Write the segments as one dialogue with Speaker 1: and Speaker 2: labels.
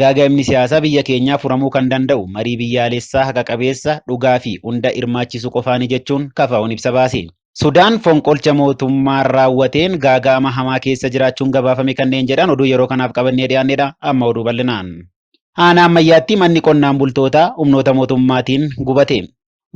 Speaker 1: Gaaga'amni siyaasaa biyya keenyaa furamuu kan danda'u marii biyyaalessaa haqa qabeessa, dhugaa fi hunda hirmaachisu qofaani jechuun KFOn ibsa baase. Sudaan fonqolcha mootummaa raawwateen gaaga'ama hamaa keessa jiraachuun gabaafame kanneen jedhan oduu yeroo kanaaf qabannee dhiyaannedha. Amma oduu bal'inaan. Aanaa Ammayyaatti manni qonnaan bultootaa humnoota mootummaatiin gubate.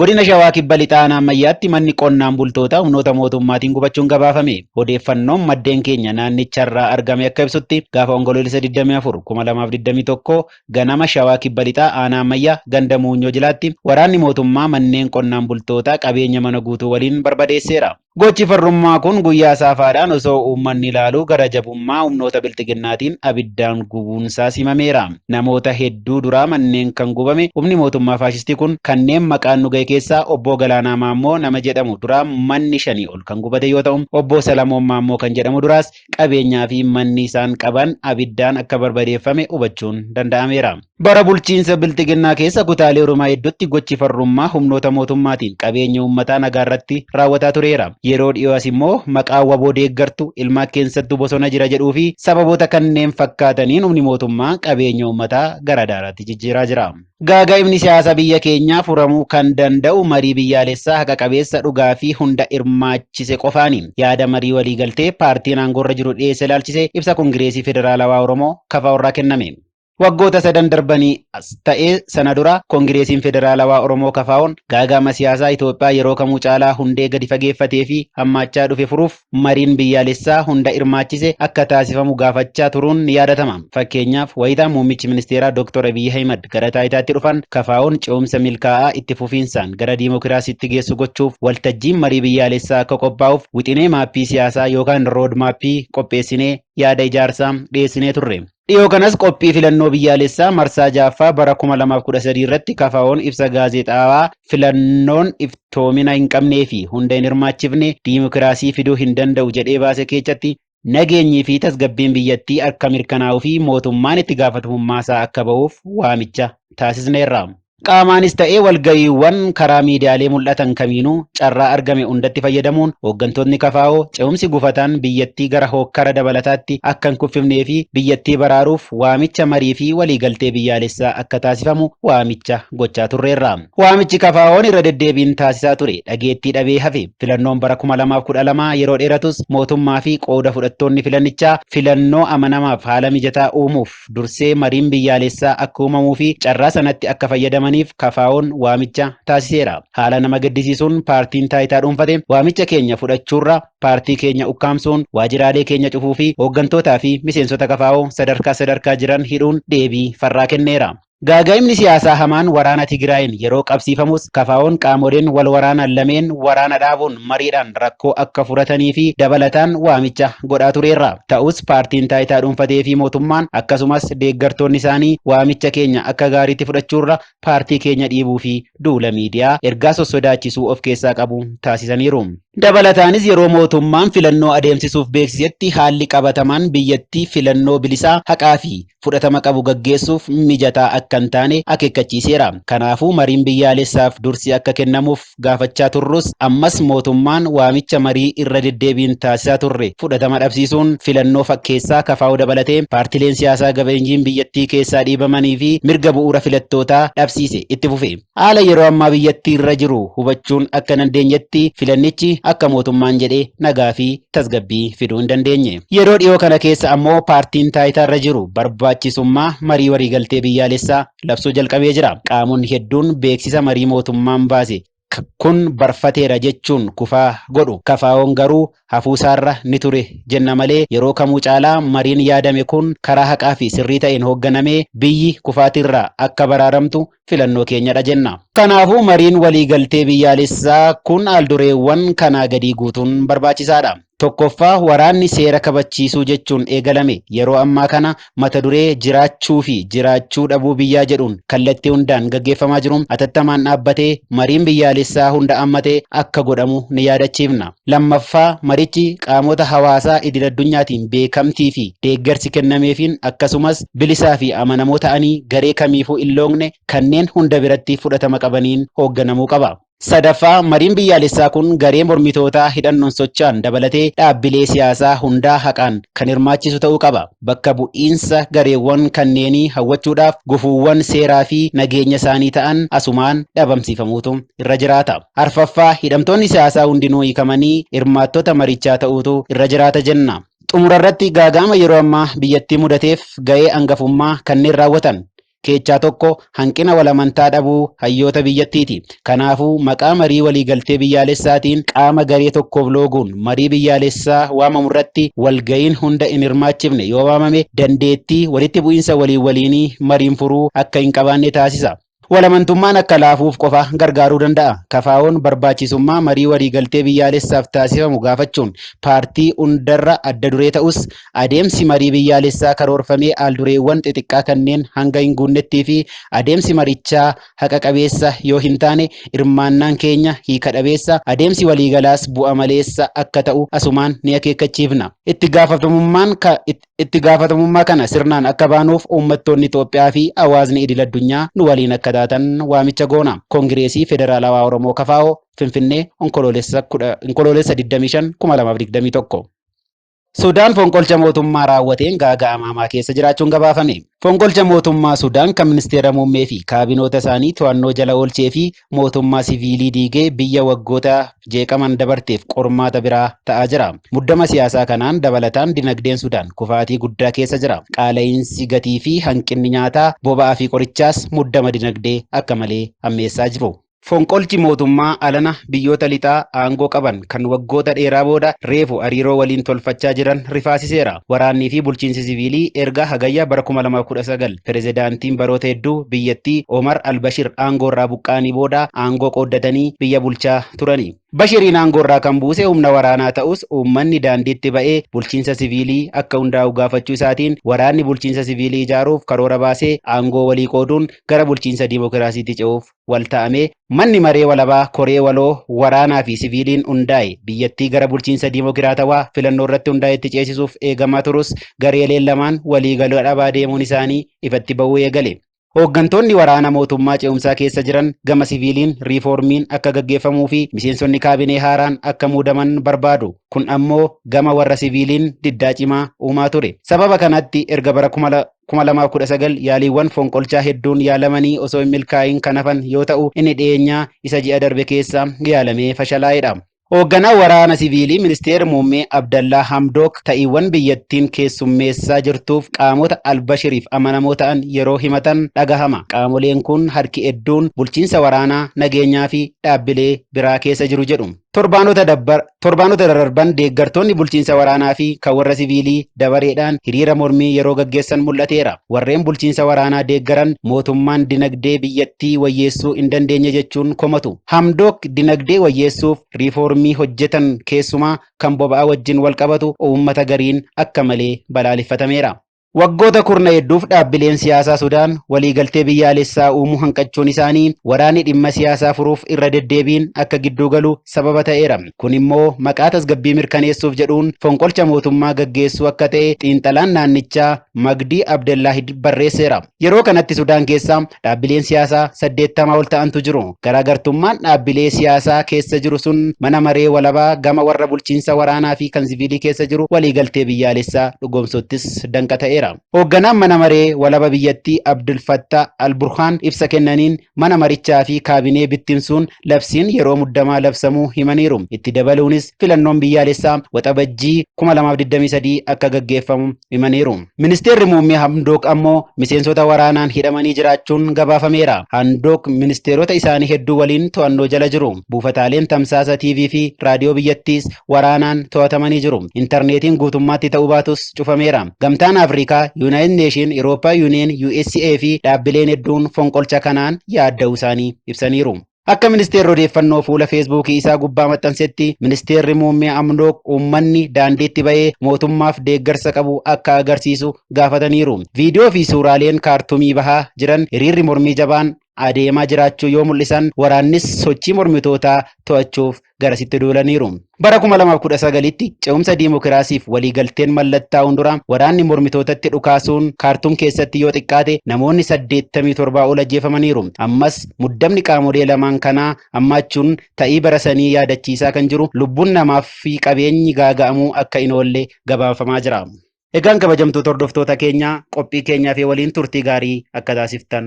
Speaker 1: Godina Shawaa Kibba Lixaa Aanaa Ammayyaatti manni qonnaan bultootaa humnoota mootummaatiin gubachuun gabaafame. Odeeffannoon maddeen keenya naannicharraa argame akka ibsutti gaafa Onkoloolessa 24, 2021 ganama Shawaa Kibba Lixaa Aanaa Ammayyaa ganda Muunyoo Jilaatti waraanni mootummaa manneen qonnaan bultootaa qabeenya mana guutuu waliin barbadeesseera. Gochi farrummaa kun guyyaa saafaadhaan osoo uummanni ilaaluu gara jabummaa humnoota Bilxiginnaatiin abiddaan gubuunsaas himameera. Namoota hedduu duraa manneen kan gubame humni mootummaa faashistii kun kanneen maqaan nu gahe keessaa Obboo Galaanaa Maammoo nama jedhamu duraa manni shanii ol kan gubate yoo ta'u, Obboo Salamoon Maammoo kan jedhamu duraas qabeenyaa fi manni isaan qaban abiddaan akka barbadeeffame hubachuun danda'ameera. Bara bulchiinsa Bilxiginnaa keessa kutaalee Oromiyaa hedduutti gochi farrummaa humnoota mootummaatiin qabeenya uummataa nagaa irratti raawwataa tureera. Yeroo dhiyoo as immoo maqaa wbo deeggartu, ilmaa keessattu bosona jira jedhuu fi sababoota kanneen fakkaataniin humni mootummaa qabeenya uummataa gara daaraatti jijjiiraa jira. Gaaga'ibni siyaasa biyya keenyaa furamuu kan danda'u marii biyyaalessaa haqa qabeessa, dhugaa fi hunda hirmaachise qofaani. Yaada marii waliigaltee paartiin aangoorra jiru dhiyeesse ilaalchisee ibsa Kongireesii Federaalawaa Oromoo, kfo, irraa kenname. Waggoota sadan darbanii as ta'ee sana dura Kongireesiin Federaalawaa Oromoo, KFOn, gaaga'ama siyaasaa Itoophiyaa yeroo kamuu caalaa hundee gadi fageeffatee fi hammaachaa dhufe furuuf, mariin biyyaalessaa hunda hirmaachise akka taasifamu gaafachaa turuun ni yaadatama. Fakkeenyaaf, wayita muummichi ministeeraa Doktor Abiy Ahimad gara taayitaatti dhufan KFO'n ce'umsa milkaa'aa itti fufiinsaan gara diimokiraasiitti geessu gochuuf waltajjiin marii biyyaalessaa akka qophaa'uuf wixinee maappii siyaasaa yookaan road map qopheessinee yaada ijaarsaa dhiyeessinee turre. Dhiyoo kanas qophii filannoo biyyaalessaa marsaa 6ffaa bara 2013 irratti KFOn ibsa gaazexaawaa filannoon iftoomina hin qabnee fi hunda hin hirmaachifne diimokiraasii fiduu hin danda'u jedhee baase keechatti nageenyii fi tasgabbiin biyyattii akka mirkanaa'uu fi mootummaan itti gaafatamummaasaa akka bahuuf waamicha taasisneerra. Qaamaanis ta'ee walga'iiwwan karaa miidiyaalee mul'atan kamiinuu carraa argame hundatti fayyadamuun hooggantootni KFO ce'umsi gufataan biyyattii gara hookkara dabalataatti akka hin kuffifnee fi biyyattii baraaruuf waamicha marii fi waliigaltee biyyaalessaa akka taasifamu waamicha gochaa turreerra. Waamichi KFOn irra deddeebiin taasisaa ture dhageettii dhabee hafe. Filannoon bara 2012 yeroo dheeratus mootummaa fi qooda fudhattoonni filannichaa filannoo amanamaaf haala mijataa uumuuf, dursee mariin biyyaalessaa akka uumamuu fi carraa sanatti akka fayyadamaniif KFOn waamicha taasiseera. Haala nama gaddisiisuun paartiin taayitaa dhuunfate waamicha keenya fudhachuurra paartii keenya ukkaamsuun waajiraalee keenya cufuu fi hooggantootaa fi miseensota kfo sadarkaa sadarkaa jiran hidhuun deebii farraa kenneera. Gaaga'imni siyaasaa hamaan waraana Tigraayiin yeroo qabsiifamus KFOn qaamoleen wal waraanan lameen waraana dhaabuun mariidhaan rakkoo akka furatanii fi dabalataan waamicha godhaa tureerra. Ta'us paartiin taayitaa dhuunfatee fi mootummaan akkasumas deeggartoonni isaanii waamicha keenya akka gaariitti fudhachuurra paartii keenya dhiibuu fi duula miidiyaa ergaa sossodaachisuu of keessaa qabu taasisaniiru. Dabalataanis yeroo mootummaan filannoo adeemsisuuf beeksisetti haalli qabatamaan biyyattii filannoo bilisaa, haqaa fi. fudhatama qabu gaggeessuuf mijataa akka hin taane akeekkachiiseera. Kanaafuu mariin biyyaalessaaf dursi akka kennamuuf gaafachaa turrus ammas mootummaan waamicha marii irra deddeebiin taasisaa turre fudhatama dhabsiisuun filannoo fakkeessaa kfo dabalatee paartileen siyaasaa gabeenyiin biyyattii keessaa dhiibamanii fi mirga bu'uura filattootaa dhabsiise itti fufe. Haala yeroo ammaa biyyattii irra jiru hubachuun akka dandeenyetti filannichi akka mootummaan jedhe nagaa fi tasgabbii fiduu hin dandeenye. Yeroo dhiyoo kana keessa ammoo paartiin taayitaarra jiru barbaachisummaa marii waliigaltee biyyaalessaa labsuu jalqabee jira. Qaamonni hedduun beeksisa marii mootummaan baase kun barfateera jechuun kufaa godhu. KFOn garuu hafuusaarra ni ture jenna malee yeroo kamuu caalaa mariin yaadame kun karaa haqaa fi sirrii ta'een hoogganamee biyyi kufaatiirraa akka baraaramtu filannoo keenyadha jenna. Kanaafuu mariin waliigaltee biyyaalessaa kun aldureewwan kanaa gadii guutuun barbaachisaadha. Tokkoffaa waraanni seera kabachiisuu jechuun eegalame yeroo ammaa kana mata duree jiraachuu fi jiraachuu dhabuu biyyaa jedhuun kallattii hundaan gaggeeffamaa jiru atattamaan dhaabbatee mariin biyyaalessaa hunda ammate akka godhamu ni yaadachiifna. Lammaffaa marichi qaamota hawaasaa idil-addunyaatiin beekamtii fi deeggarsi kennameefiin akkasumas bilisaa fi amanamoo ta'anii garee kamiifuu in loogne kanneen hunda biratti fudhatama qabaniin hoogganamuu qaba. Sadaffaa, mariin biyyaalessaa kun garee mormitootaa hidhannoon socha'an dabalatee dhaabbilee siyaasaa hundaa haqaan kan hirmaachisu ta'uu qaba. Bakka bu'iinsa gareewwan kanneenii hawwachuudhaaf gufuuwwan seeraa fi nageenya isaanii ta'an asumaan dhabamsiifamuutu irra jiraata. Arfaffaa, hidhamtoonni siyaasaa hundinuu hiikamanii hirmaattota marichaa ta'uutu irra jiraata jenna. Xumura irratti gaaga'ama yeroo ammaa biyyattii mudateef ga'ee angafummaa kanneen raawwatan keechaa tokko hanqina wal amantaa dhabuu hayyoota biyyattiiti. Kanaafuu maqaa marii walii galtee biyyaalessaatiin qaama garee tokkoof looguun marii biyyaalessaa waamamu irratti wal ga'iin hunda hin hirmaachifne yoo waamame dandeettii walitti bu'iinsa waliin waliinii mariin furuu akka hin qabaanne taasisa. Walamantummaan akka laafuuf qofa gargaaruu danda'a. KFOn barbaachisummaa marii waliigaltee biyyaalessaaf taasifamu gaafachuun paartii hundarra adda duree ta'us, adeemsi marii biyyaalessaa karoorfamee aaldureewwan xixiqqaa kanneen hanga hin guunnettii fi adeemsi marichaa haqa qabeessa yoo hin taane hirmaannaan keenya hiika dhabeessa, adeemsi waliigalaas bu'a maleessa akka ta'u asumaan ni akeekkachiifna. Itti gaafatamummaan ka Itti gaafatamummaa kana sirnaan akka baanuuf uummattoonni Itoophiyaa fi hawaasni idil addunyaa nu waliin akka taatan waamicha goona. Kongireesii Federaalawaa Oromoo, kfo, Finfinnee, Onkoloolessa 25, 2021. Sudaan fonqolcha mootummaa raawwateen gaaga'ama hamaa keessa jiraachuun gabaafame. Fonqolcha mootummaa Sudaan kan ministeera muummee fi kaabinoota isaanii to'annoo jala oolchee fi mootummaa siviilii diigee biyya waggoota jeeqaman dabarteef qormaata biraa ta'aa jira. Muddama siyaasaa kanaan dabalataan dinagdeen Sudaan kufaatii guddaa keessa jira. Qaala'iinsi gatii fi hanqinni nyaataa, boba'aa fi qorichaas muddama dinagdee akka malee hammeessaa jiru. Fonqolchi mootummaa alana biyyoota lixaa aangoo qaban kan waggoota dheeraa booda reefu hariiroo waliin tolfachaa jiran rifaasiseera. Waraannii fi bulchiinsi siviilii erga Hagayya bara 2019 Pirezidaantiin baroota hedduu biyyattii Omar al-Bashir aangoorraa buqqa'anii booda aangoo qooddatanii biyya bulchaa turani. Bashiriin aangoorraa kan buuse humna waraanaa ta'us uummanni daandiitti ba'ee bulchiinsa siviilii akka hundaa'u gaafachuu isaatiin waraanni bulchiinsa siviilii ijaaruuf karoora baasee aangoo walii qooduun gara bulchiinsa dimokiraasiitti ce'uuf wal ta'amee manni maree walabaa koree waloo waraanaa fi siviiliin hundaa'e biyyattii gara bulchiinsa diimokiraatawaa filannoo irratti hundaa'etti ceesisuuf eegamaa turus gareeleen lamaan waliigaluu dhabaa deemuun isaanii ifatti ba'uu eegale. Hooggantoonni waraana mootummaa ce'umsaa keessa jiran gama siviiliin riifoormiin akka gaggeeffamuu fi miseensonni kaabinee haaraan akka muudaman barbaadu. Kun ammoo gama warra siviiliin diddaa cimaa uumaa ture. Sababa kanatti erga bara kuma 2019 yaaliiwwan fonqolchaa hedduun yaalamanii osoo hin milkaa'iin kan hafan yoo ta'u inni dhiyeenyaa isa ji'a darbe keessa yaalamee fashalaa'edha. Hoogganaa waraana siviilii ministeera muummee Abdallaa Hamdook ta'iiwwan biyyattiin keessummeessaa jirtuuf qaamota al-Bashiriif amanamoo ta'an yeroo himatan dhagahama. Qaamoleen kun harki hedduun bulchiinsa waraanaa, nageenyaa fi dhaabbilee biraa keessa jiru jedhu. Torbaanota dabbar, torbaanota dararban deeggartoonni bulchiinsa waraanaa fi kan warra siviilii dabareedhaan hiriira mormii yeroo gaggeessan mul'ateera. Warreen bulchiinsa waraanaa deeggaran mootummaan dinagdee biyyattii wayyeessuu hin dandeenye jechuun komatu. Hamdook dinagdee wayyeessuuf riifoormii hojjetan keessumaa kan boba'aa wajjin walqabatu uummata gariin akka malee balaaleffatameera. Waggoota kurna hedduuf dhaabbileen siyaasaa Sudaan waliigaltee biyyaalessaa uumuu hanqachuun isaanii waraanni dhimma siyaasaa furuuf irra deddeebiin akka gidduu galu sababa ta'eera. Kun immoo maqaa tasgabbii mirkaneessuuf jedhuun fonqolcha mootummaa gaggeessuu akka ta'e xiinxalaan naannichaa Magdii Abdellaahid barreesseera. Yeroo kanatti Sudaan keessa dhaabbileen siyaasaa 80 ol ta'antu jiru. Garaagartummaan dhaabbilee siyaasaa keessa jiru sun mana maree walabaa gama warra bulchiinsa waraanaa fi kan siviilii keessa jiru waliigaltee biyyaalessaa dhugoomsuuttis danqa ta'eera. Hoogganaan mana maree walaba biyyattii Abdul Fattah al-Burhaan ibsa kennaniin mana marichaa fi kaabinee bittinsuun labsiin yeroo muddamaa labsamuu himaniiru. Itti dabaluunis filannoon biyyaalessaa Waxabajjii 2023 akka gaggeeffamu himaniiru. Ministeerri Muummee Hamdook ammoo miseensota waraanaan hidhamanii jiraachuun gabaafameera. Handook ministeerota isaanii hedduu waliin to'annoo jala jiru. Buufataaleen tamsaasa TV fi raadiyoo biyyattiis waraanaan to'atamanii jiru. Intarneetiin guutummaatti ta'uu baatus cufameera. Gamtaan Afrikaa, Yuunaayitid Neeshin, Irooppaa Yuuniyeen, USA fi dhaabbileen hedduun fonqolcha kanaan yaadda'uu isaanii ibsaniiru. Akka ministeerri odeeffannoo fuula feesbuukii isaa gubbaa maxxansetti, ministeerri muummee Amdook uummanni daandiitti ba'ee mootummaaf deeggarsa qabu akka agarsiisu gaafataniiru. Viidiyoo fi suuraaleen Kaartumii bahaa jiran hiriirri mormii jabaan adeemaa jiraachuu yoo mul'isan, waraannis sochii mormitootaa to'achuuf garasitti duulaniiru. Bara 2019tti ce'umsa diimokiraasiif waliigalteen mallattaa'uun dura waraanni mormitootatti dhukaasuun Kaartuum keessatti yoo xiqqaate namoonni 87 ol ajjeefamaniiru. Ammas muddamni qaamolee lamaan kanaa ammaachuun ta'ii bara sanii yaadachiisaa kan jiru lubbuun namaa fi qabeenyi gaaga'amuu akka hin oolle gabaafamaa jira. Egaan kabajamtoota hordoftoota keenyaa qophii keenyaa fi waliin turtii gaarii akka taasiftan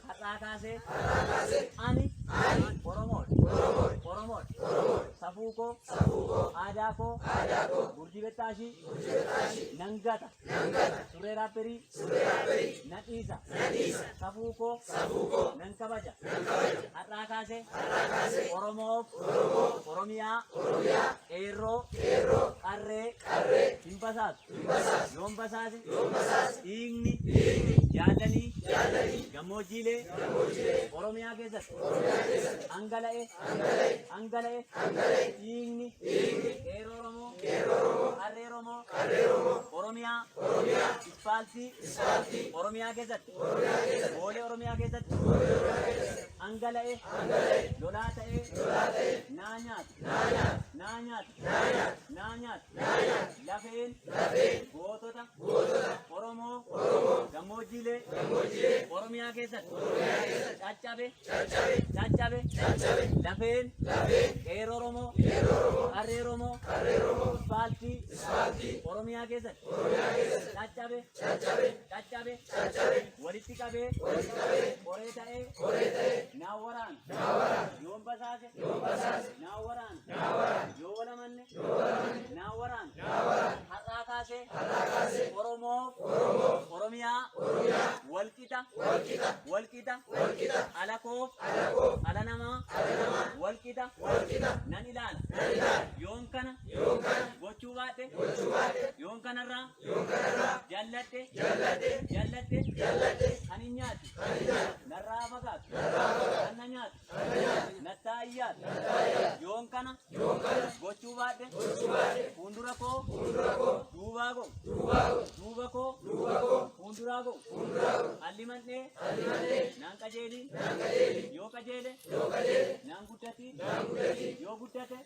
Speaker 2: Har'aa kaasee har'aa kaasee ani ani Oromoon Oromoon Oromoon Oromoon safuu koo safuu koo aadaa koo aadaa koo gurjii bettaashii gurjii bettaashii nan gata nan gata surree raapperii surree raapperii nan dhiisa nan dhiisa safuu koo safuu koo nan kabaja nan kabaja har'aa kaasee har'aa kaasee Oromoof Oromoof Oromiyaa Oromiyaa qeerroo qeerroo qarree qarree hin basaatu. Yoon basaase. Dhiigni. Jaallanii. Gammoojjiilee. Oromiyaa keessatti. Dhangala'e. Dhangala'e. Dhiigni. Qeerroo Oromoo. Qarree Oromoo. Oromiyaa. Ispaaltii. Oromiyaa keessatti. Boolee Oromiyaa keessatti. Dhangala'e. Lolaa ta'ee. Naa nyaata. Naa nyaata. Naa nyaata. lafeen gootota Oromoo gammoojjiilee Oromiyaa keessatti caccabe caccabe lafeen qeerroo Oromoo qarree Oromoo ispaaltii Oromiyaa keessatti caccabe caccabe walitti qabee qoree ta'ee naa waraana yoon basaase naa waraana yoo walamanne naa waraan har'aa kaasee oromoof oromiyaa walqixa walqixa alakoof ala namaa walqixa nan ilaala yoon kana gochuu baadhe yoon kanarraa jalladhe jalladhe kan hin nyaatu narraa fagaatu kan na nyaatu nattaa ayyaat yoon kana gochuu baadhe fuundura koo duubaa go duuba koo fuunduraa go halli mandhee naan qajeelii yoo qajeele naan guddati yoo guddate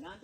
Speaker 2: naan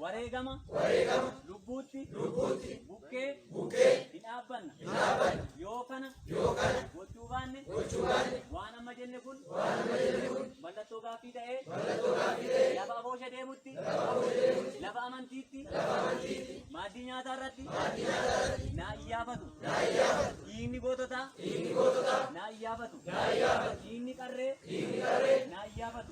Speaker 2: wareegama lubbuutti bukkee hin dhaabbanna yoo kana gochuu baanne waan amma jenne kun mallattoo gaaffii ta'ee lafa aboosha deemutti lafa amantiitti maaddii nyaataa irratti naa iyyaafatu dhiigni goototaa naa iyyaafatu dhiigni qarree naa iyyaafatu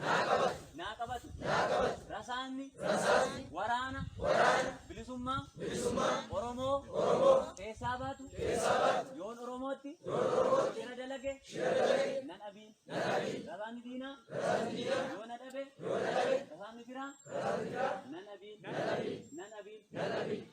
Speaker 2: Naa qabatu. Naa qabatu. Naa qabatu. Rasaasni. Rasaasni. Waraana. Waraana. Bilisummaa. Bilisummaa. Oromoo. Oromoo. Keessaa baatu. Keessaa baatu. Yoon Oromootti. Yoon Oromootti. Shira dalage. Shira dalage. Nan abiin. Nan abiin. Rasaasni diinaa. Rasaasni diinaa. Yoona dhabe. Yoona dhabe. Rasaasni firaa. Rasaasni firaa. Nan abiin. Nan abiin. Nan abiin. Nan abiin.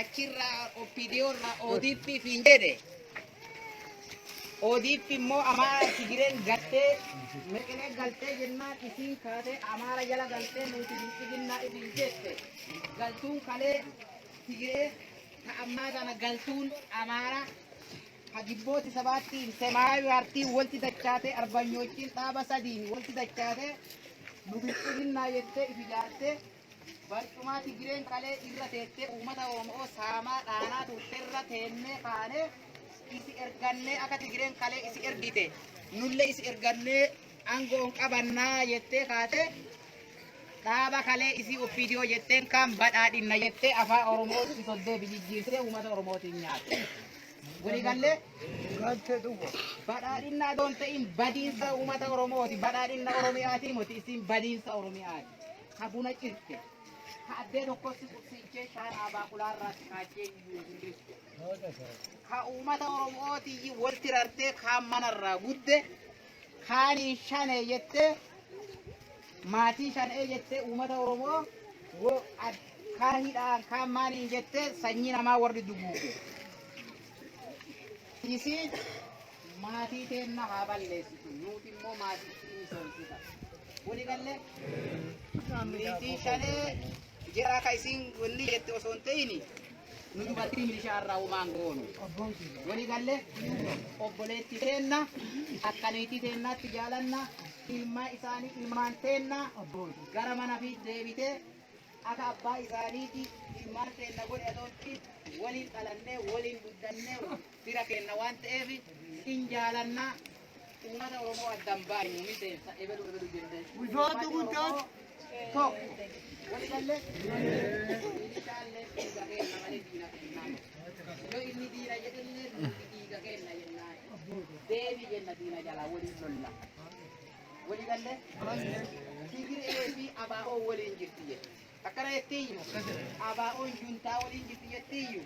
Speaker 3: achirraa OPDO irraa ODP fiin jedhe ODP immoo Amaara Tigireen gattee meqinee galtee jennaan isiin kaatee Amaara jala galtee nuti bilxiginnaa isin jette galtuun kalee Tigiree ta ammaa tana galtuun Amaara hagibbooti sabaattiin semaayu hartiin walti dachaatee arbanyoochiin dhaaba sadiin walti dachaatee nu bilxiginnaa jettee ifi jaartee Barcumaa Tigireen kalee irra teettee uummata Oromoo saamaa dhaanaa turte irra teennee kaanee isi ergannee akka Tigireen kalee isi ergite nullee isi ergannee aangoon qabannaa jettee kaate dhaaba kalee isii oppiidiyoo jetteen kan badhaadhinna jettee afaa Oromoo itti soddee bijijjiirtee uummata Oromootiin nyaatte. Waliigallee Galte dhugo. badhaadhinnaa doon ta'in badiinsa uummata Oromooti badhaadhinna Oromiyaatiin moti isin badiinsa Oromiyaati. ka buna cirte, ka addee tokkotti qubsiichee shaanaa baaqulaa irraa xiqaachee iyyuu hin jirtu. Ka uummata Oromootii walti rartee kaan mana irraa gudde, kaaniin shanee jettee maatii shanee jettee uummata Oromoo wo- ad- kaan hidhaan kaan maaliin jettee sanyii namaa warri duguuge. Isiin Maatii teenna haa balleessitu, nuuti immoo maatiitti misoomsita. Wali galle milisii shanee jara ka isiin wanni jette osoo hin ta'ini nu dubartii milishaa irraa umaan goonu. Wali galle obboleetti teenna akka niitii teennaatti jaalanna ilmaa isaanii ilmaan teenna gara mana fi deebitee akka abbaa isaaniiti ilmaan teenna godhe adoonti waliin dhalannee waliin guddannee fira keenna waan ta'eef in jaalanna uummata oromoo addan baay'u miseensa ebelu ebelu jennee Bulchoota guddaan tokko. wali galle ishaallee dhiiga keenna malee diina kennaa yoo inni diina jedhellee nuti dhiiga keenna jennaa deebi jenna diina jalaa waliin lolla wali galle tigiree fi abaa'oo waliin jirti jedhe Akkana jettiiyyu ABOn juntaa waliin jirti jettiiyyu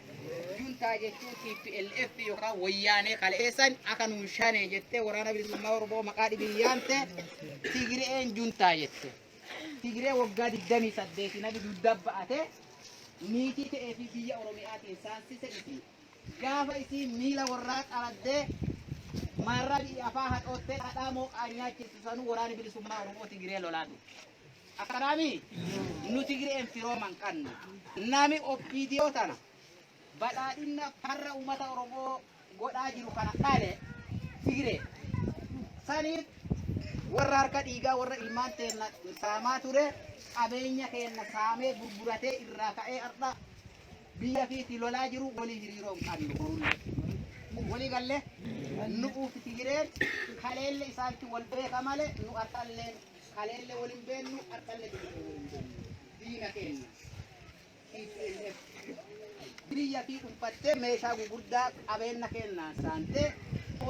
Speaker 3: juntaa jechuun TPLF yookaan wayyaanee kaleessan akka nuun shanee jettee waraana bilisummaa Oromoo maqaa dhibiin yaamte Tigireen juntaa jette. Tigiree waggaa 28 nabi dugda ba'ate niitii ta'ee fi biyya Oromiyaatiin saansise miti. Gaafa isii miila warraa qaraddee maarraa biyya afaa hadhoottee dhadhaa mooqaa nyaachisu sanuu waraana bilisummaa Oromoo Tigiree lolaa ture. Akkanaami nu Tigireen firooman qanna. Nami OPDO tana badhaadhinna farra uummata Oromoo godhaa jiru kana dhale Tigiree. Saniif warra harka dhiigaa warra ilmaan teenna saamaa ture qabeenya keenna saamee gurguratee irraa ka'ee har'a biyya fiiti lolaa jiru walii hiriiroo hin qabnu borullee. Walii galle nu'uuf Tigireen kaleelle isaantu wal beeka malee nu har'alleen Kaleelle wal hin beennu, har'alle deebinee wal hin beennu. Diina keenya. TPLF. Biyya fi dhuunfattee meeshaa gugurdaa qabeenna keennaan saantee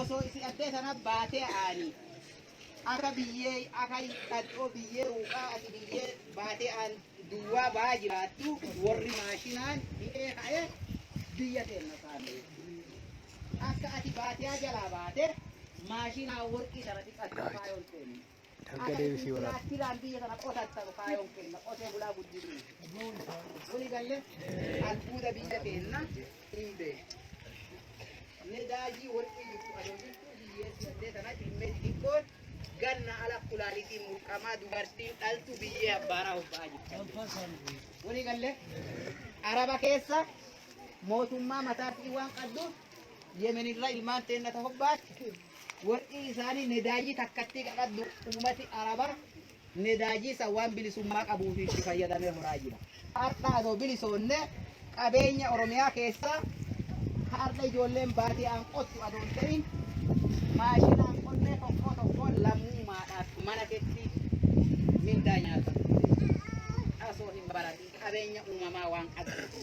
Speaker 3: osoo isi addee sana baatee aanii. Akka biyyee akka dhadhoo biyyee ruuqaa ati biyyee baatee aan duwwaa baa jiraattu warri maashinaan hidhee ka'ee biyya keenya saamee. Akka ati baatee jalaa baate maashinaa warqii sana xiqqaatti faayoon seenne. Harka Akka deebisii isin waraabaa. tiraaktiraan biyya sana qotattanu kaayoon kenna qotee bulaa guddisuu. Wali galle albuuda biyya keenna hin beekne. Nedaajii warqii jirtu adoo jirtu biyyee si'attee sanatti dhimmee xixiqqoon ganna ala kulaalitiin mulqamaa dubartiin dhaltu biyyee abbaaraa hobba'aa jirti. Wali galle araba keessa mootummaa mataatii waan qabduuf yemenirra ilmaan teennata hobbaatti Worqii isaanii nedaajii takkattii qaqaddu uumati Arabaa nedaajii san waan bilisummaa qabuuf itti fayyadamee horaa jira. Har'a adoo bilisoonne qabeenya Oromiyaa keessaa har'a ijoolleen baadiyaan qottu adoo hin ta'in maashinaan qonnee tokkoo tokkoo lammummaadhaaf mana keetti mindaa nyaata. Asoo hin baratin qabeenya uumamaa waan qabdu.